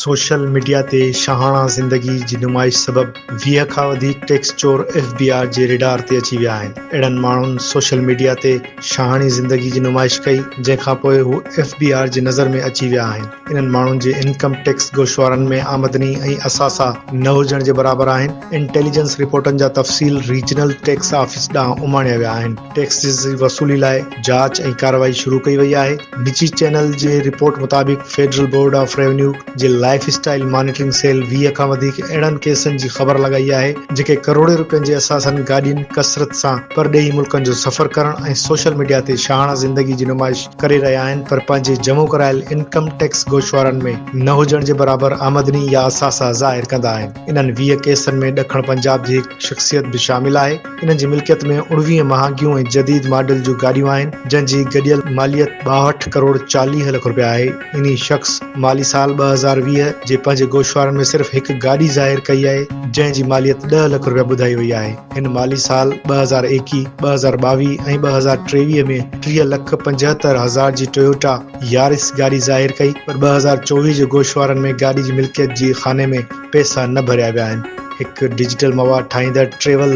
Social media تي شاهاڻا زندگي جي نمائش سبب ويهه کان وڌيڪ ٽيڪس چور ايف بي آر جي ريڊار تي اچي ويا آهن. اهڙن ماڻهن سوشل ميڊيا تي شاهاڻي زندگي جي نمائش ڪئي جنهن کانپوء هو ايف بي آر جي نظر ۾ اچي ويا آهن. انهن ماڻهن جي انڪم ٽيڪس گوشوارن ۾ آمدني ۽ اثاثا نه هجڻ جي برابر آهن. انٽيليجنس رپورٽن جا تفصيل ريجنل ٽيڪس آفيس ڏانهن اماڻيا ويا آهن. ٽيڪس جي وصولي لاء جاچ ۽ ڪارروائي شروع ڪئي وئي آهي. نجي چينل جي رپورٽ مطابق فيڊرل بورڊ آف ريونيو جي لائف اسٽائيل مانيٽرنگ سيل ويهه کان وڌيڪ اهڙن ڪيسن جي خبر لڳائي آهي جيڪي ڪروڙين رپين جي اثاثن گاڏين ڪثرت سان پرڏيهي ملڪن جو سفر ڪرڻ ۽ سوشل ميڊيا تي شاهاڻا زندگي جي نمائش ڪري رهيا آهن پر پنهنجي جمع ڪرايل انڪم ٽيڪس گوشوارن ۾ نه هجڻ جي برابر آمدني يا اثاثا ظاهر ڪندا آهن انهن ويهه ڪيسن ۾ ڏکڻ پنجاب جي هڪ شخصيت به شامل آهي انهن جي ملڪيت ۾ اڻويهه مهانگيون ۽ جديد ماڊل جون گاڏيون آهن جنهن جي گڏيل ماليت ٻاهٺ ڪروڙ چاليهه لک رپيا آهي انهي شخص مالي سال ٻه هزار ويهه جي پنهنجي گوشوارن ۾ صرف هڪ گاڏي ظاهر ڪئي آهي جنهن جي ماليت ڏهه لک رپيا ٻڌائي وئي آهي. هن مالي سال ٻه هزار ايڪيهه، ٻه هزار ٻاويهه ۽ ٻه هزار ٽيويهه ۾ ٽيهه لک پنجهتر هزار جي ٽويوٽا يارس گاڏي ظاهر ڪئي پر ٻه هزار چوويهه جي گوشوارن ۾ گاڏي جي ملڪيت جي خاني ۾ پئسا نه ڀريا ويا آهن. هڪ ڊجيٽل مواد ٺاهيندڙ ٽريول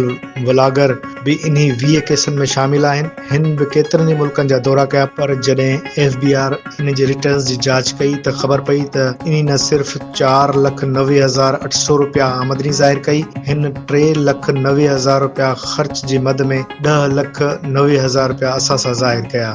ولاگر به انهي ويهه ڪيسن ۾ شامل آهن. هن به ڪيترن ئي ملڪن جا دورا ڪيا. پر جڏهن ايف بي آر انهن جي رٽرنز جي جاچ ڪئي ته خبر پئي ته انهن نه صرف چار لک نوي هزار اٺ سؤ رپيا آمدني ظاهر ڪئي، هن ٽي لک نوي هزار رپيا خرچ جي مد ۾ ڏهه لک نوي هزار رپيا اثاثا ظاهر ڪيا.